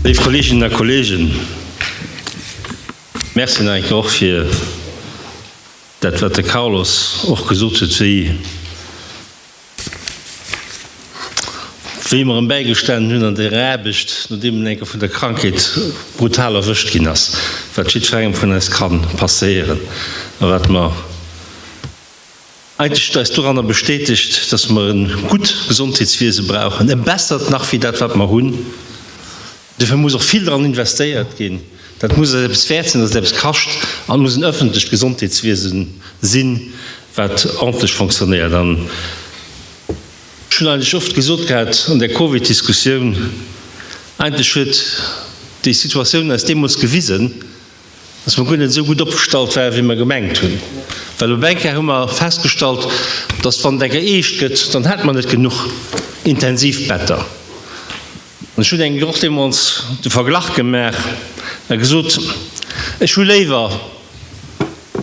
Léif Kolleeginnen a Kolleegen, Merci nach eng Kéier och fir dat, wat de Carlos och gesot huet, wéi, Wéi mer em bäigestanen hunn an der Aarbecht, nodeem en eng Kéier vun der Krankheet brutal erwëscht ginn ass, wat jiddferengem vun eis ka passéieren a wat mer eigentlech eis doranner bestätegt, dass mer e gutt Gesondheetswiese brauchen, e bessert nach wéi dat, wat mer hunn. Dofir muss och vill dran investéiert ginn. Dat muss eis eppes wäert sinn, datt et eppes kascht. An et muss en ëffentlecht Gesondheetswiese sinn, wat ordentlech fonctionnéiert. An ech hunn eigentlech oft gesot, grad an där Covid-Diskussioun, eigentlech huet déi Situatioun eis deemools gewisen, datt mer guer net esou gutt opgestallt waren, wéi mer gemengt hunn. Well op eng Kéier hu mer festgestallt, datt wann et eng geeescht gëtt, dann hätt mer net genuch Intensivbetter. Ech hunn engem och deemools de Verglach gemaach a gesot, ech hu léiwer,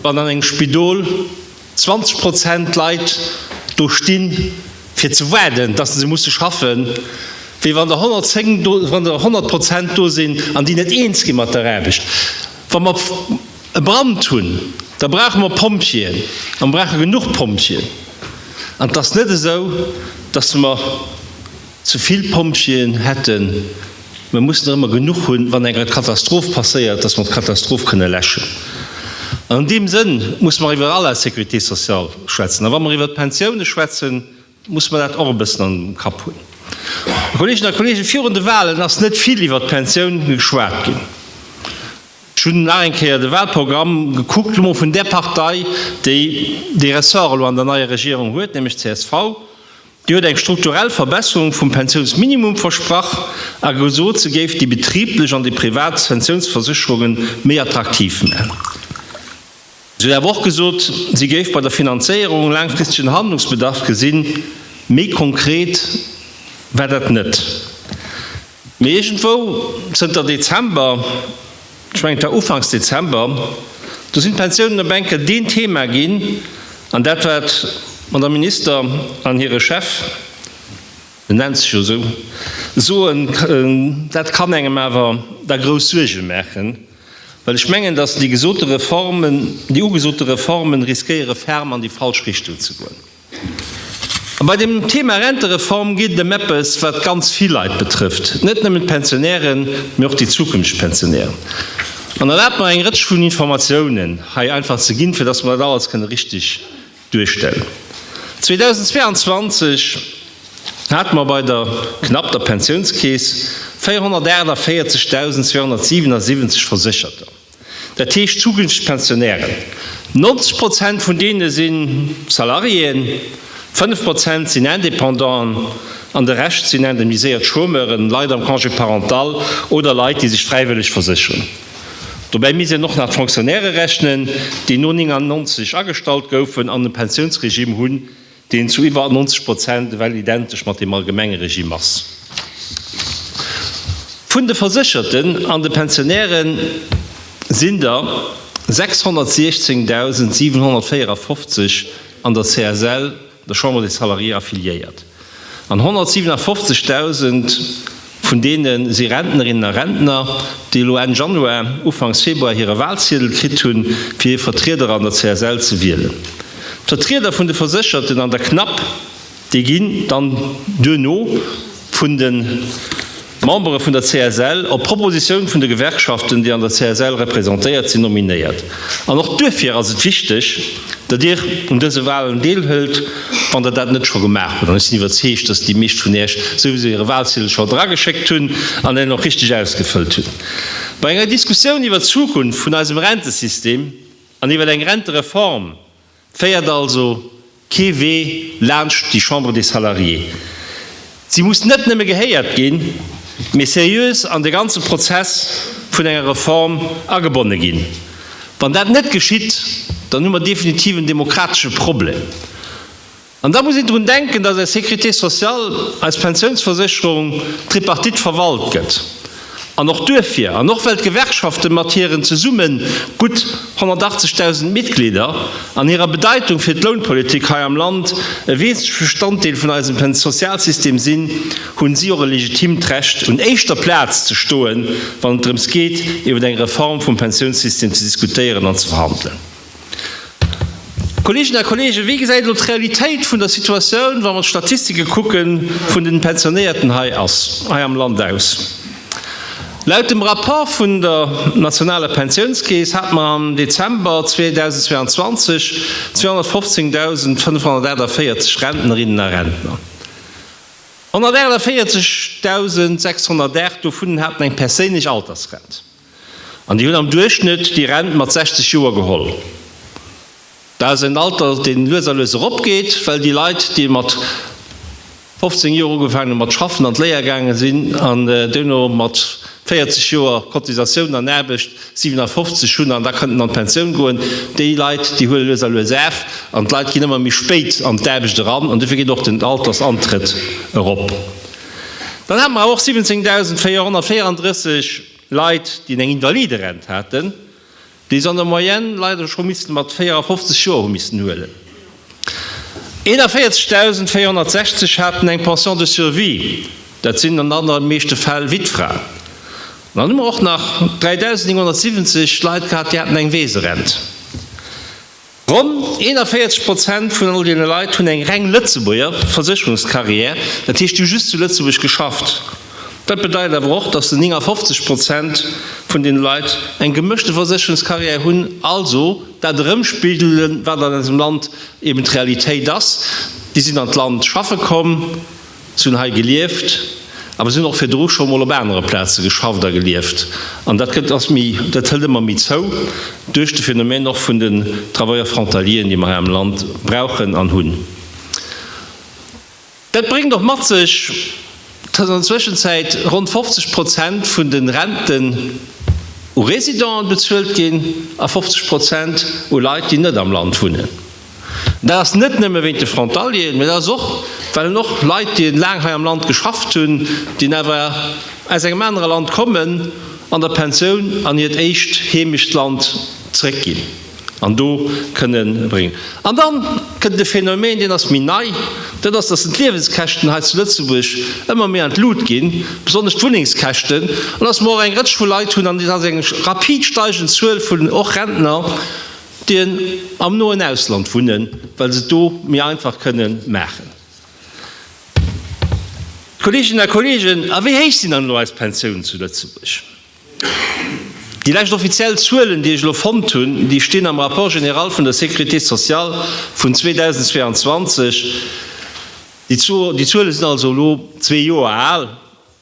wann an engem Spidol 20 Prozent Leit do sti fir ze waarden, datt se musse schaffen, wéi wann der 110 do, wann der 100 Prozent do sinn an déi net eens gi mat der Aarbecht. Wa mer e Brand hunn, da brauche mer Pompjeeën a mer brauche genuch Pompjeeën. An et ass net esou, datt mer. Ze vill Pompjeeën hätten, mä mussen der ëmmer genuch hunn, wann eng Katastroph passéiert, datt mer d'Katastroph kënne läschen. An an deem Sënn musse mer iwwer all eis Sécurité sociale schwätzen. A wa mer iwwert d'Pensioune schwätzen, musse mer dat och e bëssen am Kapp hunn. Kolleeginnen a Kolleegen, virun de Wahlen ass net vill iwwert d'Pensioun geschwat ginn. Ech hunn nach eng Kéier de Wahlprogramm gekuckt, lo mol vun där Partei, déi dee Ressort elo an der neier Regierung huet, nämlech csv. Dir hutt eng strukturell Verbesserung vum Pensiounsminimum versprach a gesot, se géif déi betriblech an déi privat Pensiounsversécherunge méi attraktiv maachen. Se hutt awer och gesot, se géif bei der Finanzéierung laangfristegen Handlungsbedarf gesinn. Méi konkret war dat net. Mee iergendwou zënter Dezember, ech mengen et war ufanks Dezember, do sinn d'Pensiounen op eng Kéier deen Thema ginn, an dat wat Madame Minister an hire Chef, en nennt sech jo esou, soen, dat kann engem awer da grouss Suerge maachen, well ech mengen, datt déi gesote Reformen, déi ugesote Reformen riskéiere ferm an déi falsch Richtung ze goen. A bei dem Thema Rentereform geet et ëm eppes, wat ganz vill Leit betrëfft, net nëmmen d'Pensionären, mee och déi zukünfteg Pensionären. An erlaabt mer, eng Rëtsch vun Informatiounen hei einfach ze ginn, fir dass mer dat alles kënne richtig duerstellen. 2022 hate mer bei der, knapp, der Pensiounskeess 448.277 Versécherter. Dat heescht zukünfteg Pensionären. 90 Prozent vun deene si Salariéen, 5 Prozent sinn Indépendanten an de Rescht sinn indemniséiert Chômeuren, Leit am Congé parental oder Leit, déi sech fräiwëlleg versécheren. Dobäi misst een och nach d'Fonctionnairë rechnen, déi no 1999 agestallt goufen an e Pensiounsregime hunn, deen zu iwwer 90 Prozent ewell identesch mat deem allgemenge Regime ass, vun de Versécherten an de Pensionäre sinn der 616.754 an der CSL, der Chambre des Salariés, affiliéiert an 157.000, Vun deene si Rentnerinnen a Rentner, déi elo Enn Januar, Ufanks Februar hire Walziedel kritt hunn, fir hir Vertrieder an der CSL ze wielen. D'Vertrieder vun de Versécherten an der CNAP, déi ginn dann duerno vun de Membere vun der CSL, op Propositioun vun de Gewerkschaften, déi an der CSL representéiert sinn, nominéiert. An och duerfir ass et wichteg, datt Dir un dëse Walen deelhëlt. Wann der dat net scho gemaach hutt, an ech sinn iwwerzeegt, dass déi meescht vun Iech souwisou hire Walziedel scho drageschéckt hunn an en och richteg ausgefëllt hunn, bei enger Diskussioun iwwer d'Zukunft vun eisem Rentesystem an iwwer eng Rentereform féiert also kee Wee laanscht déi Chambre des Salariés. Si muss net nëmme gehéiert ginn, mee seriös an de ganze Prozess vun enger Reform agebonne ginn. Wann dat net geschitt, dann hu mer definitiv en demokratesche Problem. An da muss een drun denken, dass eis Sécurité sociale, eis Pensiounsversécherung, Tripartite verwalt gëtt. An och duerfir, an och well d'Gewerkschafte mat hiren zesumme gutt 180.000 Mitglieder an hirer Bedeitung fir d'Lounpolitik hei am Land e wesentlech Bestanddeel vun eisem Sozialsystem sinn, hunn si och e legitimt Recht un éischter Plaz ze stoen, wann et drëms geet iwwer eng Reform vum Pensiounssystem ze diskutéieren an ze verhandelen. Kolleeginnen a Kolleegen, wéi gesäit elo d'Realitéit vun der Situatioun, wa mer d'Statistike kucken, vun den Pensionéierten hei ass, hei am Land aus? Laut dem Rapport vun der nationaler Pensiounskeess hate mer am Dezember 2022 215.548 Rentnerinnen a Rentner. 148.608 dovun haten eng perséinlech Altersrent. An déi hunn am Duerchschnëtt déi Rent mat 60 Joer geholl. Dat ass en Alter, dee lues a lues eropgeet, well déi Leit, déi mat 15 Joer ugefaangen hunn mat schaffen, an d'Léier gaange sinn an duerno mat 40 Joer Cotisatioun an Aarbecht 57 hunn an da kënnten an d'Pensioun goen, déi Leit, déi huele lues a lues af. An d'Leit ginn ëmmer méi spéit an d'Aarbecht eran an dofir geet och den Altersantrëtt erop. Dann hate mer awer och 17.434 Leit, déi eng Invaliderent haten, déi se an der Moyenne leider scho missten mat 54 Joer hu missten huelen. 41.460 haten eng Pension de survie, dat sinn an aller meeschte Fäll Wittfraen. An dann hu mer och nach 3.970 Leit gehat, déi haten eng Weeserent. Ronn 41 Prozent vun all deene Leit hunn eng reng Lëtzebuerger Versécherungscarrière, dat heescht, déi hu just zu Lëtzebuerg geschafft. Dat bedeit awer och, datt den 59 Prozent vun deene Leit eng gemëschte Versécherungscarrière hunn, also dat erëmspigelen, wat an eisem Land eben d'Realitéit ass, déi sinn an d'Land schaffe komm, Si hunn hei gelieft, awer si hunn och virdru scho mol op anere Plaze geschafft a gelieft. An dat gëtt ass méi, dat hëlt ëmmer méi zou duerch de Phänomen och vun den Travailleurs frontalieren, déi mer hei am Land brauchen an hunn. Dat bréngt och mat sech, dass an der Zwëschenzäit ronn 50 Prozent vun de Renten u Résidenten bezuelt ginn a 50 Prozent u Leit, déi net am Land wunnen. Dat ass net nëmme wéint de Frontalieren, mä dat ass och, well en och Leit, déi laang hei am Land geschafft hunn, déi awer aus engem anere Land kommen, an der Pensioun an hiert éischt Heemechtsland zrëckginn an do kënne bréngen. An da kënnt e Phänomen, deen ass méi nei, dat ass, dass d'Liewenskäschten hei zu Lëtzebuerg ëmmer méi an d'Lut ginn, besonnesch d'Wunnengskäschten, an dass mer och eng Rëtsch vu Leit hunn, an dat ass eng rapid steigend Zuel vun och Rentner, déi am noen Ausland wunnen, well se et do méi einfach kënnen maachen. Kolleeginnen a Kolleegen, a wéi héich sinn dann elo eis Pensiounen zu Lëtzebuerg? Déi lescht offiziell Zuelen, déi ech elo fonnt hunn, déi stinn am Rapport général vun der Sécurité sociale vun 2022. Déi Zuele sinn also elo zwee Joer al.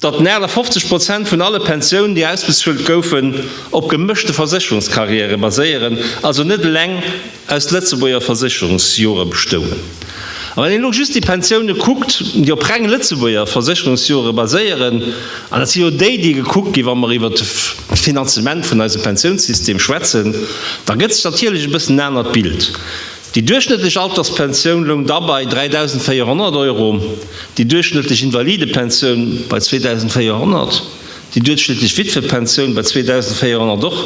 Datt nahe 50 Prozent vun alle Pensiounen, déi ausbezuelt goufen, op gemëschte Versécherungskarriäre baséieren, also net eleng aus Lëtzebuerger Versécherungsjore bestoungen. A wann een elo just déi Pensiounen kuckt, déi op reng Lëtzebuerger Versécherungsjore baséieren, an dat si jo déi, déi gekuckt ginn, wa mer iwwer d'Finanzement vun eisem Pensiounssystem schwätzen, da gëtt sech natierlech e bëssen en anert Bild. Déi duerchschnëttlech Alterspensioun loung da bei 3.400 Euro, déi duerchschnëttlech Invalidepensioun bei 2.400, déi duerchschnëttlech Wittwepensioun bei 2.400 och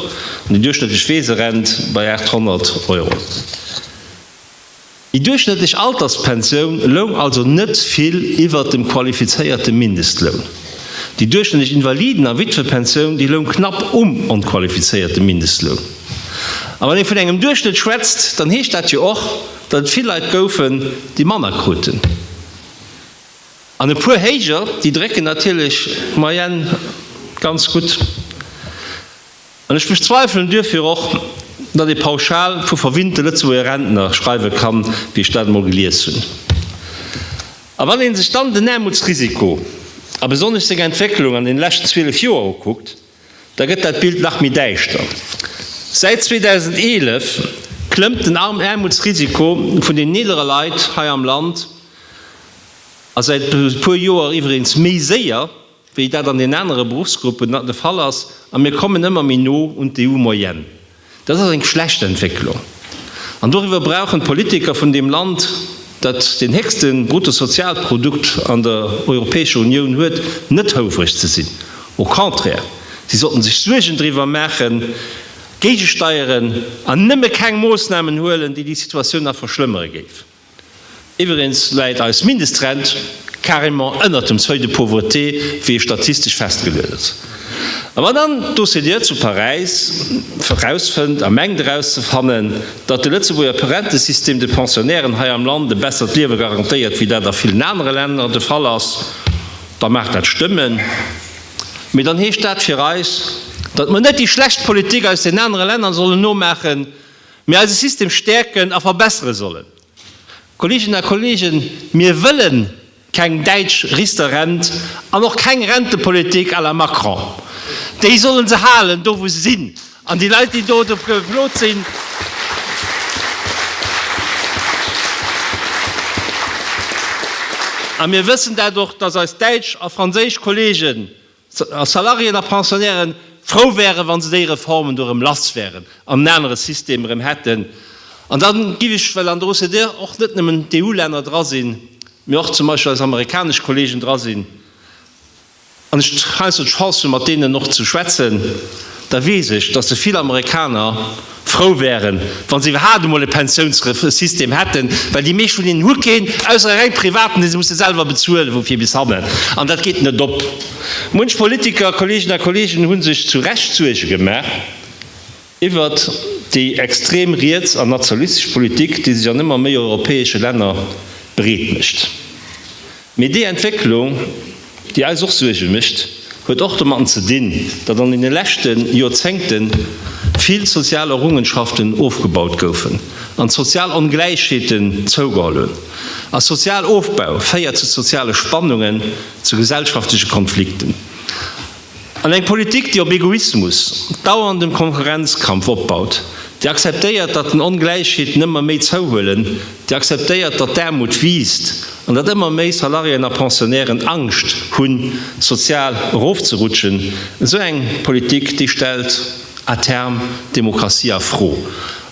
an déi duerchschnëttlech Weeserent bei 800 Euro. Déi duerchschnëttlech Alterspensioun loung also net vill iwwert dem qualifizéierte Mindestloun. Déi duerchschnëttlech Invaliden a Wittwepensioun, déi loung knapp um onqualifizéierte Mindestloun. A wann ee vun engem Duerchschnëtt schwätzt, dann heescht dat jo och, datt et vill Leit goufen, déi manner kruten. An e puer héijer, déi drécken natierlech d'Moyenne ganz gutt. An ech bezweifelen duerfir och, datt ee pauschal vu verwinnte Lëtzebuerger Rentner schreiwe kann, wéi ech dat emol gelies hunn. A wann ee sech dann den Aarmutsrisiko a besonnesch seng Entwécklung an deene leschten 12 Joer ukuckt, Da gëtt dat Bild nach méi däischter. Säit 2011 klëmmt den Aarmutsrisiko vun den eelere Leit hei am Land a säit e puer Joer iwwereens méi séier, wéi dat an den anere Beruffsgruppen de Fall ass, a mir kommen ëmmer méi no un d'EU-Moyenne. Dat ass eng schlecht Entwécklung, an doriwwer brauchen d'Politiker vun deem Land, dat den héchste Bruttosozialprodukt an der Europäescher Unioun huet, net houvreg ze sinn. Au contraire, si sollten sech Suergen driwwer maachen, géigesteieren an nëmme keng Moossnamen huelen, déi déi Situatioun nach verschlëmmere géifen. Iwwregens läit eis Mindestrent carrément ënnert dem Seuil de pauvreté, wéi e statistesch festgeluet ass. A wann dann d'OCDE zu Paräis erausfënnt a mengt erauszefannen, datt de Lëtzebuerger Perentesystem de Pensionnairen hei am Land e bessert Liewe garantéiert, wéi dat a villen anere Länner de Fall ass, da mag dat stëmmen, mee dann heescht dat fir eis, datt mer net déi schlecht Politik aus den anere Länner sollen nomaachen. Mir eise System stäerken a verbessere sollen. Kolleeginnen a Kolleegen, mir wëlle keng däitsch Riester-Rent an och keng Rentepolitik à la Macron. Déi solle se halen, do wou se sinn, an déi Leit, déi do dofir geflot sinn, a mir wëssen dat och, dass eis däitsch a franséisch Kolleegen a Salariéen a Pensionnairen frou wären, wa se déi Reformen do erëm lass wären an en anere System erëm hätten. An dann giff ech, well an der OCDE och net nëmmen d'EU-Länner dra sinn, mee och zum Beispill eis amerikanesch Kollegen dra sinn, an ech heiansdo d'Chance hunn, mat deenen och ze schwätzen, da weess ech, datt se vill Amerikaner, frou wären, wa se iwwerhaapt emol e Pensiounssystem hätten, well déi meescht vun hinnen hu keen, ausser e reng privaten, dee se musse selwer bezuelen, wou fir bis hannen, an dat geet net op. Munch Politiker, Kolleegen a Kolleegen, hu sech zu Recht Suerge gemaach iwwert déi extrem riets an nationalistesch Politik, déi sech an ëmmer méi europäesche Länner breet mécht. Mee déi Entwécklung, déi eis och Suerge mécht, huet och domatten ze dinn, datt an deene leschte Joerzéngte vill sozial Errungenschaften ofgebaut goufen an d'sozial Ongläichheeten zougeholl hunn. A Sozialofbau féiert zu soziale Spannungen, zu gesellschaftleche Konflikten. An eng Politik, déi op Egoismus, dauerndem Konkurrenzkampf opbaut, déi akzeptéiert, datt den Ongläichheeten ëmmer méi zouhuelen, déi akzeptéiert, datt d'Aarmut wiisst an datt ëmmer méi Salariéen a Pensionnairen Angscht hunn, sozial erofzerutschen, esou eng Politik, déi stellt. à terme d'Demokratie a Fro.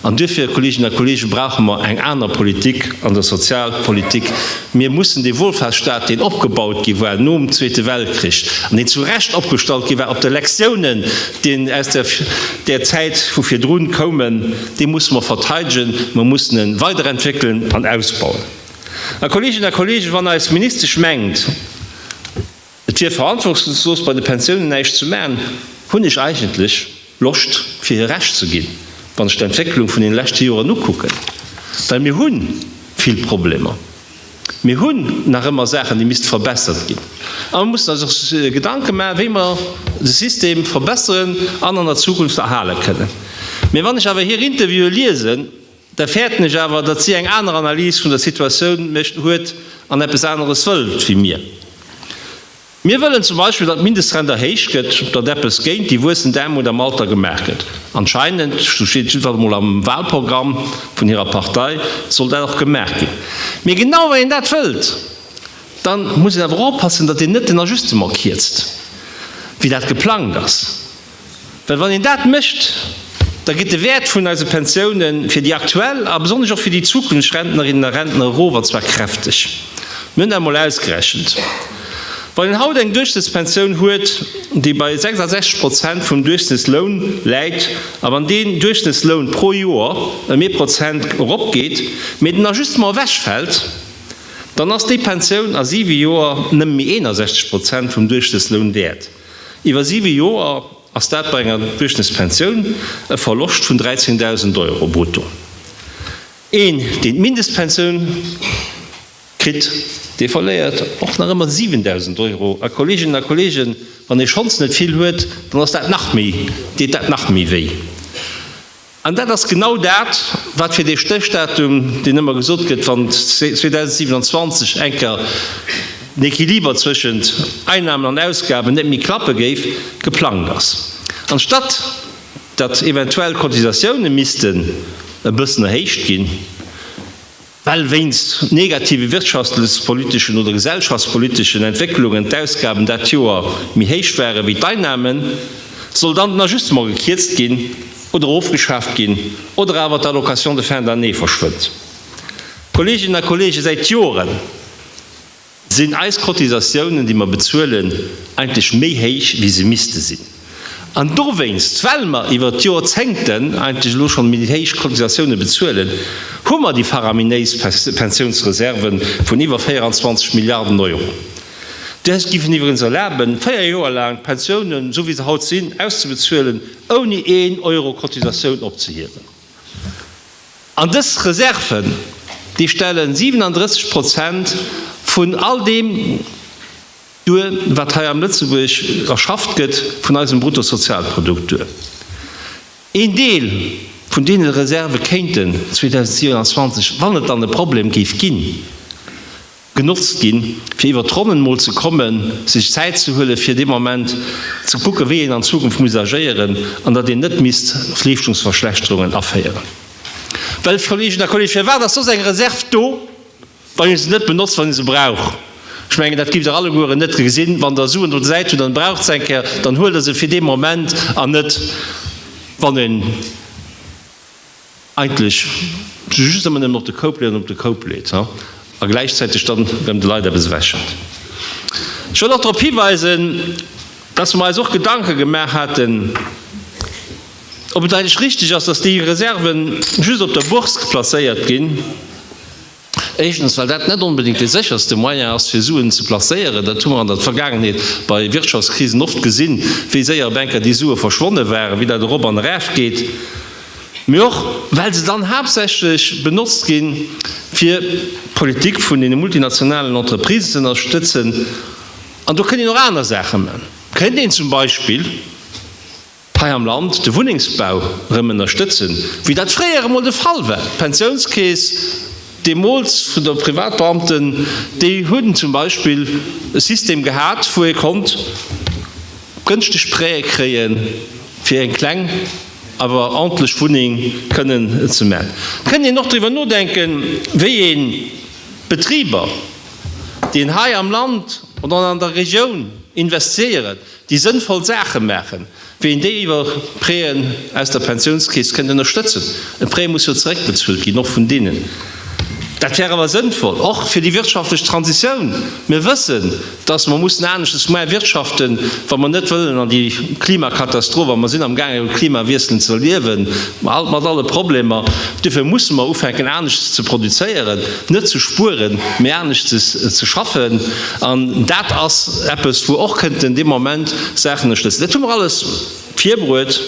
An duerfir, Kolleeginnen a Kolleegen, brauche mer eng aner Politik an der Sozialpolitik. Mir mussen dee Wohlfahrtsstaat, deen opgebaut gi war nom Zweete Weltkrich an deen zu Recht opgestallt gi war op de Lektionen, déi aus där Zäit vu virdrun koumen, dee musse mer verteidegen, mer mussen e weiderentwéckelen an ausbauen. A Kolleeginnen a Kolleegen, wann eis Ministesch mengt, Et wier verantwortungslos bei de Pensiounen näischt ze maachen. Hunn ech eigentlech Loscht fir hir Recht ze ginn, wann ech d'Entwécklung vun den leschte Joren ukucken? Well mir hu vill Problemer. Mir hunn nach ëmmer Saachen déi misste verbessert ginn. A mir mussen eis och Gedanke maachen, wéi mer de System verbesseren an an der Zukunft erhale kënnen. Mä wann ech awer hir Interviewe liesen, Da fäerten ech awer, datt si eng aner Analys vun der Situatioun mécht, huet an eppes aneres wëllt wéi mir. Mir wëllen zum Beispill, datt d'Mindestrent erhéicht gëtt, datt eppes géint déi wuessend Aarmut am Alter gemaach gëtt. Anscheinend, sou steet et jiddefalls emol am Wahlprogramm vun hirer Partei, soll dat och gemaach ginn. Mee genau wann een dat wëllt, da muss een awer och oppassen, datt een net den Ajustement kierzt, wéi dat geplangt ass. Well wann een dat mécht, da geet de Wäert vun eise Pensioune fir déi aktuell a besonnesch och fir déi Zukunftsrentnerinnen a Rentner erof, an zwar kräfteg. Mir hunn dat emol ausgerechent. Wann een haut eng Duerchschnëttspensioun huet, déi bei 66 Prozent vum Duerchschnëttsloun läit, a wann deen Duerchschnëttsloun pro Joer ëm ee Prozent eropgeet, mee den Ajustement ewechfält, dann ass déi Pensioun a siwe Joer nëmme méi 61 Prozent vum Duerchschnëttsloun wäert. Iwwer siwe Joer ass dat bei enger Duerchschnëttspensioun e Verloscht vun 13.000 Euro brutto. Een, deen d'Mindestpensioun kritt, dee verléiert och nach ëmmer 7.000 Euro. A Kolleeginnen a Kolleegen, wann ee schonns net vill huet, dann ass dat nach méi, deet dat nach méi wéi. An dat ass genau dat, wat fir dee Stéchdatum, deen ëmmer gesot gëtt, wann 2027 eng Kéier den Equiliber zwëschent Einnahmen an Ausgaben net méi klappe géif, geplangt ass. Anstatt datt eventuell d'Cotisatiounen missten e bëssen erhéicht ginn, Well wéinst negative wirtschaftlespoliteschen oder gesellschaftspoliteschen Entwécklungen d'Ausgaben dat Joer méi héich ware wéi d'Einnahmen, soll dann den Ajustement gekierzt ginn oder ofgeschaaft ginn oder awer d'Allocation de fin d'année verschwënnt. Kolleeginnen a Kolleegen, säit Joren, Sinn eis Cotisatiounen, déi mer bezuelen, eigentlech méi héich, wéi se misste sinn? An dowéinst, well mer iwwert d'Jorzéngten eigentlech elo schonn méi héich Cotisatiounen bezuelen, hu mer déi faraminéis Pensiounsreserven vun iwwer 24 Milliarden Euro. Dës géifen iwwregens erlaben, véier Joer laang d'Pensiounen, esou wéi se haut sinn, auszebezuelen, ouni een Euro Cotisatioun opzehiewen. An dës Reserven, déi stellen 37 Prozent vun all deem duer, wat hei am Lëtzebuerg erschafft gëtt, vun eisem Bruttosozialprodukt duer. Een Deel vun deene Reserve kéinten 2027, wann et dann e Problem géif ginn, genotzt ginn, fir iwwer d'Ronnen mol ze kommen, sech Zäit ze huelen, fir dee Moment ze kucken, wéi een an Zukunft muss agéieren, an datt een net misst Leeschtungsverschlechterungen aféieren. Well, Kolleeginnen a Kolleegen, firwat ass soss eng Reserv do, wann ee se net benotzt, wann ee se brauch? Ech mengen, dat giff Der allegueren net gesinn. Wann Der Suen op der Säit hutt an Der braucht se eng Kéier, dann huelt Der se fir dee Moment an net, wann een, eigentlech just ëmmer nëmmen op de Koup leet an op de Koup leet a gläichzäiteg dann erëm de Leit eppes ewechhëlt. Ech wëll och drop hiweisen, dass mer eis och Gedanke gemaach haten, ob et eigentlech richtig ass, dass déi Reserven just op der Bourse placéiert ginn, Éischtens, well dat net onbedéngt dee sécherste Moyen ass, fir Suen ze placéieren. Dat hu mer an der Vergaangenheet bei Wirtschaftskrisen oft gesinn, wéi séier op eng Kéier déi Sue verschwonne waren, wéi dat erop an eraf geet. Mee och, well se dann haaptsächlech benotzt ginn, fir d'Politik vun deene multinationalen Entreprises ze ënnerstëtzen. An do kënnt een och aner Saache man. Kënnt een zum Beispill. hei am Land de Wunnengsbau erëm ënnerstëtzen, wéi dat fréier emol de Fall war. D'Pensiounskeess deemools vun de Privatbeamten, déi hunn zum Beispill e System gehat, wou ee konnt gënschteg Prêtë kréie fir eng kleng awer ordentlech Wunneng kënnen ze man. Et kënnt een och driwwer nodenken, wéi ee Betriber, déi hei am Land oder an der Regioun investieren, déi sënnvoll Saache maachen, wéi een déi iwwer Prêt'en aus der Pensiounskeess kënnt ënnerstëtzen, e Prêt muss jo zeréckbezuelt ginn, och vun deenen. Dat wär awer sënnvoll, och fir déi wirtschaftlech Transitioun. Mir wëssen, dass mer mussen aneschtes ma wirtschaften, wa mer net wëllen an déi Klimakatastroph, a mer sinn amgaangen e Klimawiessel ze erliewen, mat alle Problemer, duerfir musse mer ufänken aneschtes ze produzéieren. Net ze spueren, mee anescht ze schaffen. An dat ass eppes, wou och kënnten dee Moment Saachen ënnerstëtzen. Dat hu mer alles virbruet,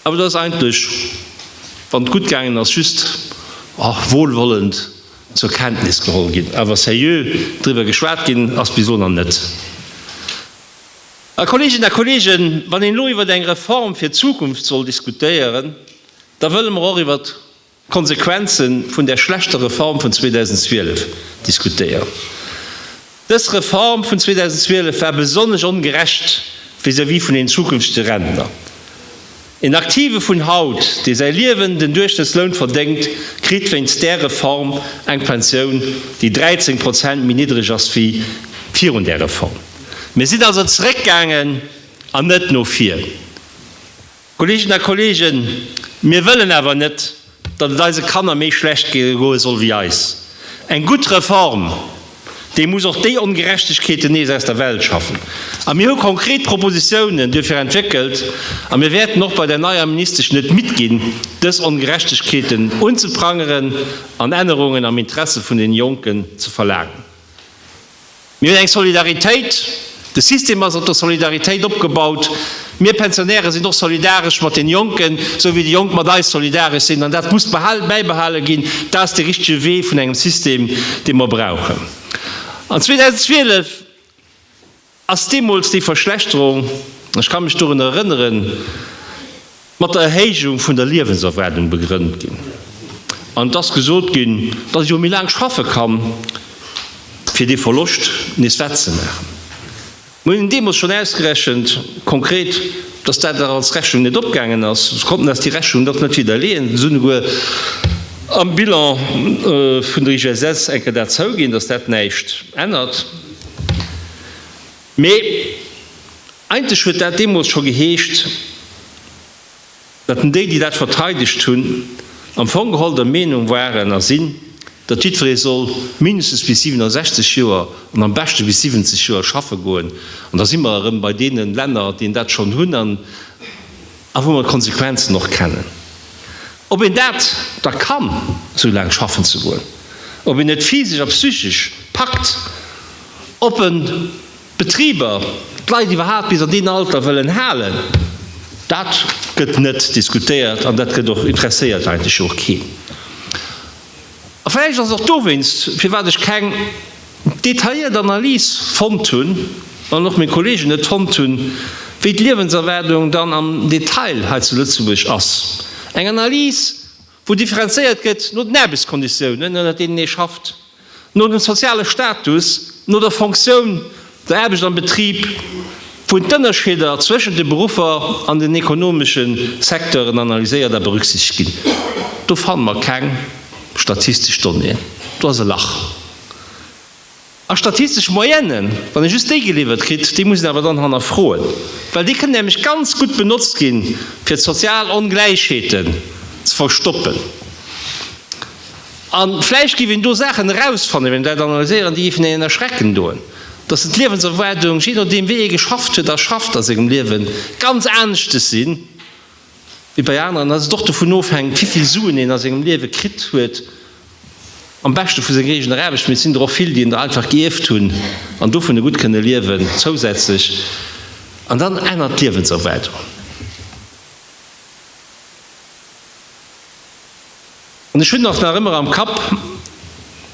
awer dat ass eigentlech, wann et gutt gaangen ass, just wohlwollend zur Kenntnis geholl ginn. Awer seriö driwwer geschwat ginn ass bis elo nach net. A Kolleeginnen a Kolleegen, wann een elo iwwert eng Reform fir d'Zukunft soll diskutéieren, da wëlle mer och iwwert Konsequenzen vun där schlechter Reform vun 2012 diskutéieren. Dës Reform vun 2012 war besonnesch ongerecht vis-à-vis vun den zukünftige Rentner. Een Aktive vun haut, dee säi Liewen den Duerchschnëttsloun verdéngt, kritt wéinst där Reform eng Pensioun, déi 13 Prozent méi niddreg ass wéi virun där Reform. Mir sinn also zeréckgaangen an net no vir. Kolleginnen a Kollegen, mir wëllen awer net, datt et eise Kanner méi schlecht goe soll wéi eis. Eng gutt Reform, déi muss och déi Ongerechtegkeeten nees aus der Welt schaffen. A mir hu konkret Propositiounen duerfir entwéckelt a mir wäerten och bei der neier Ministesch net midd ginn, dës Ongerechtegkeeten unzeprangeren an Ännerungen am Interesse vun den Jonken ze verlaangen. Mir hunn eng Solidaritéit, de System ass op der Solidaritéit opgebaut. Mir Pensionäre sinn och solidaresch mat den Jonken, esou wéi déi Jonk mat eis solidaresch sinn. An dat muss bäibehale ginn. Dat ass de richtege Wee vun engem System, dee mer brauchen. An 2012 ass deemools déi Verschlechterung, ech ka mech dorunner erënneren, mat der Erhéijung vun der Liewenserwaardung begrënnt ginn an et ass gesot ginn, datt ee jo méi laang schaffe kann, fir dee Verloscht nees wettzemaachen. Mir hunn deemools schonn ausgerechent, konkret, datt dat dach als Rechnung net opgaangen ass. Se konnten eis déi Rechnung dach net widderleeën. Se hunn souguer am Bilan vun der IGSS eng Kéier dat zouginn, datt dat näischt ännert. Mee eigentlech huet dat deemools scho geheescht, datt en déi, déi dat verteidegt hunn, am Fong geholl der Meenung waren a sinn, datt jiddweree soll mindestens bis 67 Joer an am beschte bis 70 Joer schaffe goen. An da si mer erëm bei deene Länner, déi dat schonn hunn. A wou mer d'Konsequenzen och kennen, ob een dat da kann, esou laang schaffen ze goen, ob een et physesch a psychesch packt, ob en d'Betriber, d'Leit iwwerhaapt bis an deem Alter wëllen halen, dat gëtt net diskutéiert an dat gëtt och interesséiert eigentlech jo och keen. A vläicht ass et och dowéinst, firwat ech keng detailléiert Analys fonnt hunn, an och meng Kolleegen net fonnt hunn, wéi d'Liewenserwaardung dann am Detail hei zu Lëtzebuerg ass. Eng Analys, wou differenzéiert gëtt no den Aarbechtskonditiounen, ënner deenen ee schafft, no dem soziale Status, no der Fonctioun der Aarbecht am Betrib, wou d'Ënnerscheeder zwëschent de Beruffer an den ekonomesche Secteuren analyséiert a berücksichtegt ginn. Do fanne mer keng statistesch Donnéeën. Do ass e Lach. A statistesch Moyennë, wann ee just déi geliwwert kritt, déi muss een awer dann hannerfroen, well déi kënnen nämlech ganz gutt benotzt gi fir d'sozial Ongläichheeten ze verstoppen. A vläicht géif een do Saachen erausfannen, wann een dat analyséieren, déi géifen een een erschrecken doen, dass den d'Liewenserwaardung, jee nodeem wéi ee geschafft huet a schafft a sengem Liewen, ganz aneschtes si wéi bei aneren, dass et och dovun ofhänkt, wéi vill Suen een a sengem Liewe kritt huet, am beschte vu senger eegener Aarbecht, mee et sinn der och vill, déi een der einfach gierft hunn an dovunner gutt kënne liewen, zousätzlech. An dann ännert d'Liewenserwaardung. An ech hunn och nach ëmmer am Kapp,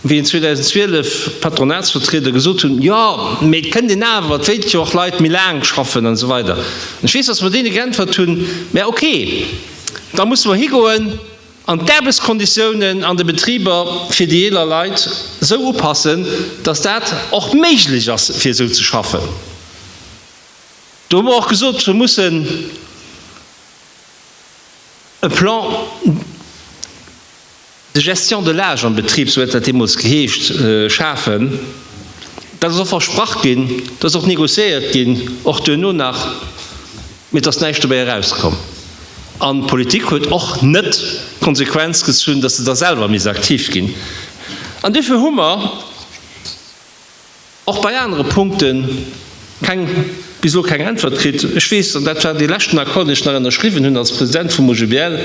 wéi en 2012 d'Patronatsvertrieder gesot hunn, jo, mee et kënnt een awer, et wéilt jo och Leit méi laang schaffen an esou weider. An ech weess, datt mer deene geäntwert hunn, mä okay, da musse mer higoen an d'Aarbechtskonditiounen an de Betriber fir déi eeler Leit esou upassen, datt dat och méiglech ass fir esou ze schaffen. Do hu mer och gesot, se mussen. E Plan de gestion de l'âge am Betrib, sou huet dat deemools geheescht, schafen. Dat ass och versprach ginn, dat ass och négociéiert ginn, och duerno nach, mee et ass näischt dobäi erauskomm. An d'Politik huet och net d'Konsequenz gezunn, dass se da selwer misst aktiv ginn. An duerfir hu mer. Och bei anere Punkte keng, bis elo keng Äntwert kritt. Ech weess, an dat war dee leschten Accord, deen ech nach ënnerschriwwen hunn als President vum OGBL,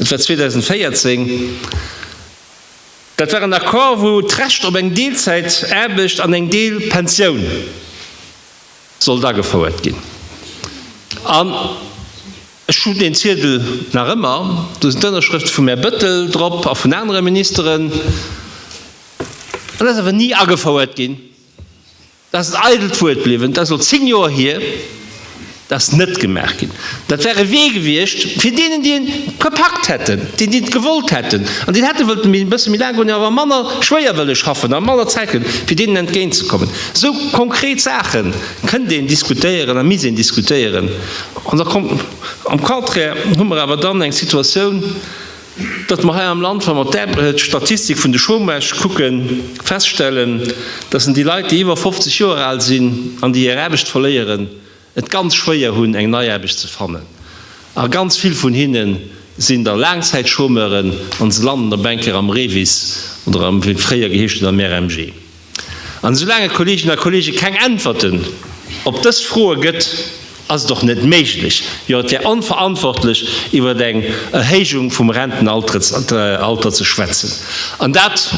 et war 2014, dat war en Accord, wou d'Recht op eng Deelzäitaarbecht an eng Deelpensioun sollt agefouert ginn. An ech hunn deen Ziedel nach ëmmer, do sinn d'Ënnerschrëfte vum Här Bettel drop a vun anere Ministeren. Et ass awer ni agefouert ginn. Et ass en eidelt Wuert bliwwen. Et ass elo zéng Joer hier. Et ass net gemaach ginn. Dat wär e Wee gewiescht fir deenen, déi e gepackt hätten, déi et gewollt hätten an déi et hätte wëllte e bësse méi laang goen, awer manner schwéier wëlle schaffen a manner Zäit hunn, fir deenen entgéintzekommen. Esou konkret Saache kënnt een diskutéieren a misst een diskutéieren. Am Contraire hu mer awer dann eng Situatioun, datt mer hei am Land, wa mer d'Statistik vun de Chômage kucken, feststellen, datt en déi Leit, déi iwwer 50 Joer al sinn an déi hir Aarbecht verléieren, et ganz schwéier hunn, eng nei Aarbecht ze fannen. A ganz vill vun hinne sinn da Laangzäitchômeuren an se landen da Banker am REVIS oder am, wéi et fréier geheescht huet, am RMG. An esoulaang et, Kolleeginnen a Kolleegen, keng Äntwerten op dës Froe gëtt, ass et och net méiglech, jo et wär onverantwortlech, iwwer eng Erhéijung vum Rentenalter ze schwätzen. An dat,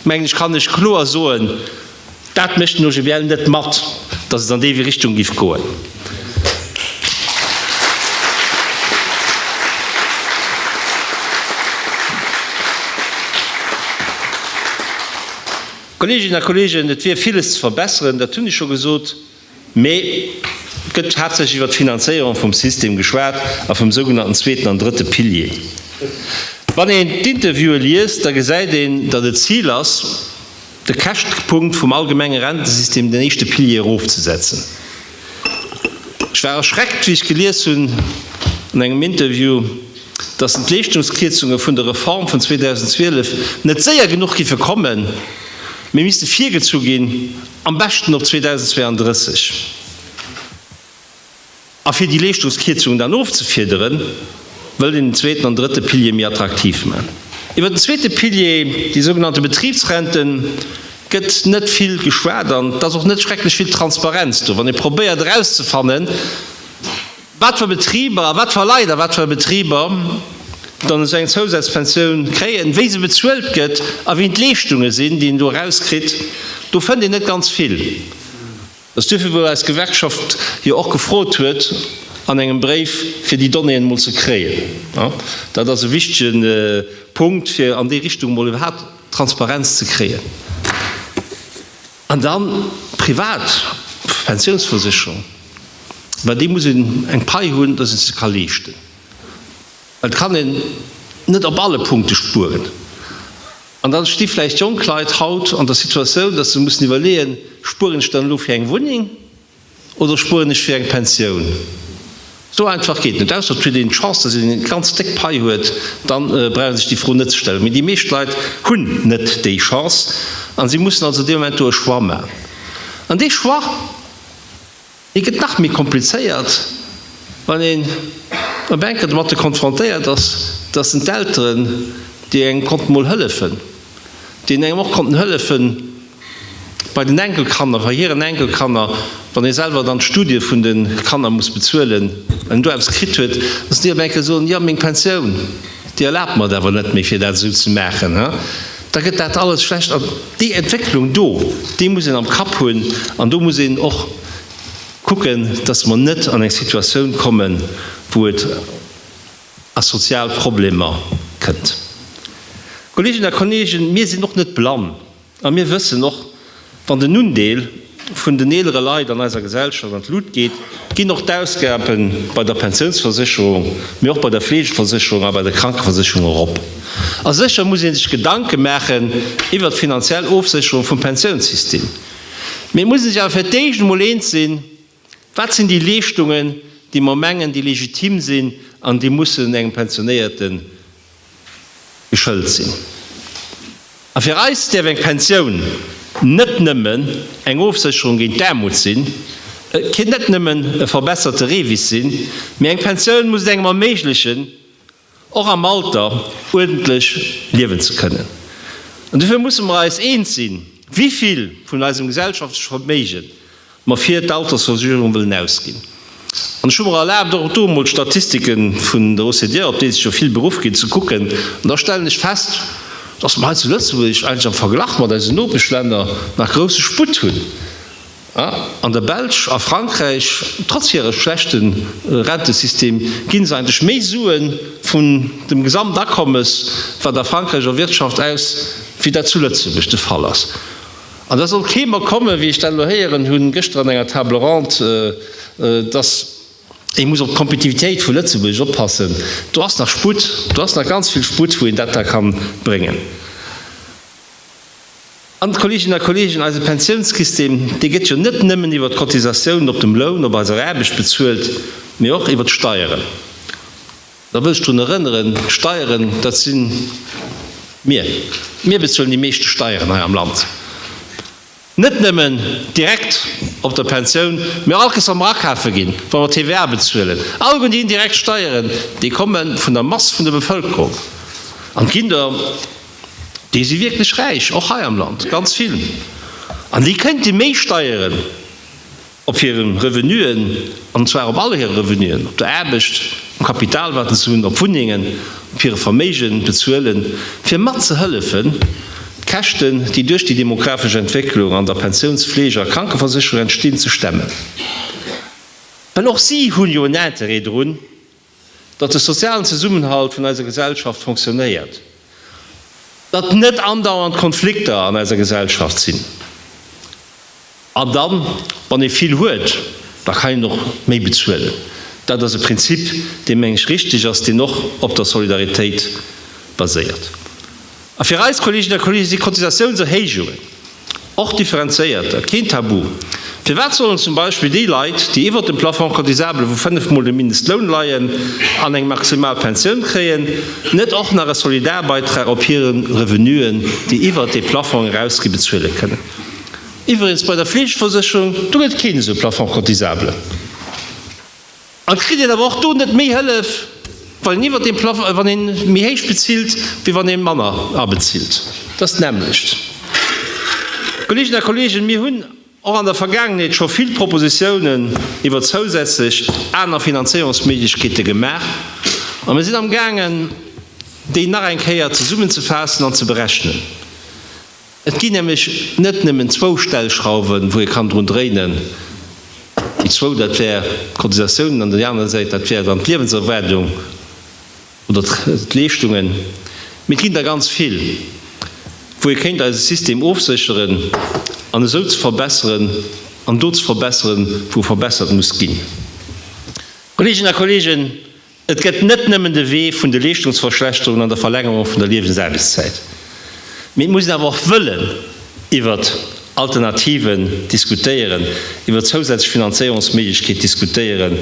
mengen ech, kann ech kloer soen, dat mécht den OGBL net mat, datt et an déi Richtung géif goen. Kolleeginnen a Kolleegen, et wier villes ze verbessern, dat hunn ech scho gesot, mä et gëtt haaptsächlech iwwert d'Finanzéierung vum System geschwat a vum sougenannten zweeten an drëtte Pilier. Wann een d'Interviewe liest, da gesäit een, datt et d'Zil ass, De Käschtepunkt vum allgemenge Rentesystem, den éischte Pilier erofzesetzen. Ech war erschreckt, wéi ech gelies hunn an engem Interview, datt d'Entleeschtungskierzunge vun der Reform vun 2012 net séier genuch géife kommen, mee misste virgezu ginn, am beschten op 2032. A fir déi Leeschtungskierzungen dann ofzefiederen, wëllt een den zweeten an drëtte Pilier méi attraktiv man. Iwwert den zweete Pilier, déi sougenannte Betribsrenten, gëtt net vill geschwat an et ass och net schrecklech vill Transparenz do, wann ee probéiert erauszefannen, wat fir Betriber a wat fir Leit a wat fir Betriber dann esou eng Zousazpensioun kréien, wéi se bezuelt gëtt a wéi d'Leeschtunge sinn, déi een do erauskritt. Do fënnt een net ganz vill. Dat ass duerfir, wou eis Gewerkschaft jo och gefrot huet an engem Bréif, fir déi Donnéeën emol ze kréien. Dat ass e wichtige Punkt, fir an déi Richtung emol iwwerhaupt Transparenz ze kréien. An dann privat Pensionsversicherung, mä déi muss een eng Pai hunn, dass ee se ka leeschten. Et kann een net op alle Punkte spueren. An dann sti vläicht jonk Leit haut an der Situatioun, dass se mussen iwwerleeën, Spueren ech dann elo fir eng Wunneng oder spueren ech fir eng Pensioun? Sou einfach geet et net. Ausser et huet een d'Chance, dass een eng ganz déck Pai huet, da brauch ee sech déi Fro net ze stellen. Mee déi meescht Leit hunn net déi Chance a si mussen also dee Moment do e Choix maachen. An dee Choix. Et gëtt nach méi komplizéiert, wann een op eng Kéier domatte konfrontéiert ass, dass en d'Elteren, déi engem konnten emol hëllefen, déi een engem och konnten hëllefe bei den Enkelkanner, bei hiren Enkelkanner, wann ee selwer dann d'Studie vun de Kanner muss bezuelen, wann een do eppes kritt huet, dass déi op eng Kéier soen, jo, meng Pensioun, déi erlaabt mer et awer net méi, fir dat esou ze maachen. da gëtt dat alles schlecht. An déi Entwécklung do, déi muss een am Kapp hunn an do muss een och kucken, datt mer net an eng Situatioun kommen, wou et a sozial Problemer kënnt. Kolleeginnen a Kolleegen, mir sinn och net blann a mir wëssen och, Wann den Undeel vun den eelere Leit an eiser Gesellschaft an d'Lut geet, ginn och d'Ausgabe bei der Pensiounsversécherung, mee och bei der Fleegeversécherung a bei der Krankeversécherung erop. A sécher muss ee sech Gedanke maachen iwwert d'finanziell Ofsécherung vum Pensiounssystem. Mee et muss ee sech awer fir d'éischt emol eens sinn, Wat sinn déi Leeschtungen, déi mer mengen, déi legitim sinn an déi mussen engem Pensionéierte geschëlt sinn? A fir eis däerf eng Pensioun net nëmmen eng Ofsécherung géint d'Aarmut sinn, et ké net nëmmen e verbesserte REVIS sinn, mee eng Pensioun muss et engem erméiglechen, och am Alter uerdentlech liewen ze kënnen. An dofir musse mer eis eens sinn, wivill vun eisem gesellschaftleche Verméige mer fir d'Altersversuerung wëllen ausginn. An ech hu mer erlaabt, och do emol d'Statistike vun der OCDE, op déi sech jo vill beruff ginn, ze kucken. An da stellen ech fest, dass mer hei zu Lëtzebuerg eigentlech am Verglach mat eisen Nopeschlänner nach grousse Sputt hunn. An der Belsch a Frankräich, trotz hire schlechte Rentesystem, gi se eigentlech méi Sue vun dem Gesamtakommes, wat a Frankräich erwirtschaft, aus, wéi dat zu Lëtzebuerg de Fall ass. An da soll kee mer kommen, wéi ech dat elo héieren hunn gëschter an enger Table ronde, dass ee muss op d'Kompetitivitéit vu Lëtzebuerg oppassen. Do ass nach Sputt, do ass nach ganz vill Sputt, wou een dat da ka bréngen. An, Kolleeginnen a Kolleegen, eise Pensiounssystem, dee gëtt jo net nëmmen iwwert d'Cotisatiounen op dem Loun, op eiser Aarbecht bezuelt, mee och iwwert d'Steieren. Da wëll ech drun erënneren, Steieren, dat si mir. Mir bezuelen déi meeschte Steieren hei am Land. Net nëmmen direkt op der Pensioun, mee och alkes, wa mer akafe ginn, wa mer TVA bezuelen, alleguer déi indirekt Steieren, déi komme vun der Mass vun der Bevëlkerung. An d'Kinder, déi si wierklech räich, och hei am Land, ganz vill. An déi kënnte méi Steieren Op hiren Revenuen, an zwar op all hire Revenuen, op der Aarbecht, um Kapital wat se hunn, op Wunnengen, op hire Verméigen, bezuelen, fir mat ze hëllefen d'Käschten, déi duerch déi demografesch Entwécklung an der Pensiouns-, Fleege a Krankeversécherung entstinn, ze stemmen. Well och si hu jo en Interêt drun, datt de sozialen Zesummenhalt vun eiser Gesellschaft fonctionnéiert, datt net andauernd Konflikter an eiser Gesellschaft sinn. An da wann ee vill huet, da kann een och méi bezuelen. Dat ass e Prinzip, dee meng ech richteg ass, deen och op der Solidaritéit baséiert. A fir eis Kolleeginnen a Kolleegen si Cotisatiounserhéijungen, och differenzéierter, keen Tabu. Firwat sollen zum Beispill déi Leit, déi iwwert dem Plafond cotisable vu fënnef Mol dem Mindestloun leien an eng maximal Pensioun kréien, net och nach e Solidarbeitra op hire Revenuen, déi iwwert dee Plafong erausgi, bezuele kënnen? Iwwregens, bei der Fleegeversécherung, do gëtt keen esou e Plafond cotisable. Et kritt een awer och do net méi Hëllef, wann een iwwert deem Plafong, wann ee méi héich bezilt, wéi wann ee manner abezilt. Dat ass d'nämmlecht. Kolleeginnen a Kolleegen, mir hunn och an der Vergaangenheet scho vill Propositionen iwwert zousätzlech aner Finanzéierungsméiglechkeete gemaach, a mir sinn amgaangen, déi nach eng Kéier zesummenzefaassen an ze berechnen. Et ginn nämlech net nëmmen zwou Stellschrauwen, wou ee kann drun dréinen. Déi zwou, dat wär d'Cotisatiounen an déi aner Säit, dat wär dann d'Liewenserwaardung oder d'Leeschtungen. Mee et ginn der ganz vill, wou ee kéint eise System ofsécheren an esou ze verbesseren an do ze verbesseren, wou verbessert muss ginn. Kolleeginnen a Kolleegen, Et gëtt net nëmmen de Wee vun de Leeschtungsverschlechterungen an der Verlängerung vun der Liewensaarbechtszäit, mee et muss een awer och wëllen iwwer Alternativen diskutéieren, iwwer zousätzlech Finanzéierungsméiglechkeet diskutéieren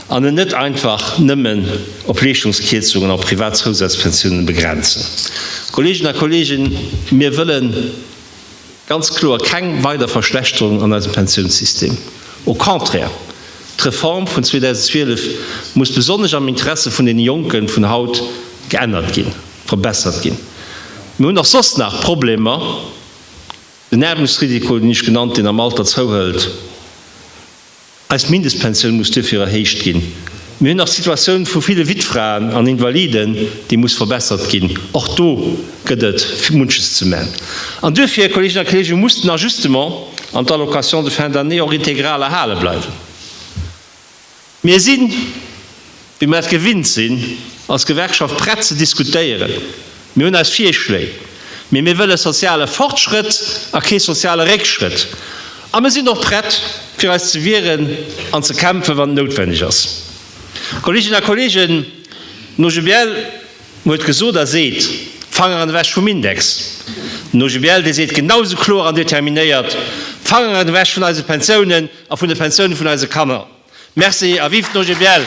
an et net einfach nëmmen op Leeschtungskierzungen an op privat Zousazpensiounen begrenzen. Kolleegen a Kolleegen, mir wëllen, Ganz kloer keng weider Verschlechterung an eisem Pensiounssystem, au contraire! D'Reform vun 2012 muss besonnesch am Interesse vun deene Jonken vun haut geännert ginn, verbessert ginn. Mir hunn och soss nach Problemer, den Aarmutsrisiko, deen ech genannt hunn, am Alter zouhëlt. Eis Mindestpensioun muss duerfir erhéicht ginn. Mir hunn nach d'Situatioun vu ville Wittfraen an Invaliden, déi muss verbessert ginn. Och do gëtt et munches ze man. An duerfir, Kolleeginnen a Kolleegen, muss den Ajustement an d'Allocation de fin d'année och integral erhale bleiwen. Mir sinn. Wéi mer et gewinnt sinn, als Gewerkschaft prett ze diskutéieren. Mir hunn eis Virschléi, mee mir wëlle soziale Fortschrëtt a kee soziale Réckschrëtt. A mir sinn och prett, fir eis ze wieren an ze kämpfen, wann et noutwenneg ass. Kolleeginnen a Kolleegen, den OGBL huet gesot a seet, Fanger an ewech vum Index! Den OGBL, dee seet genau esou kloer an determinéiert, Fanger an ewech vun eise Pensiounen a vun de Pensiounen vun eise Kanner! Merci a vive d'OGBL!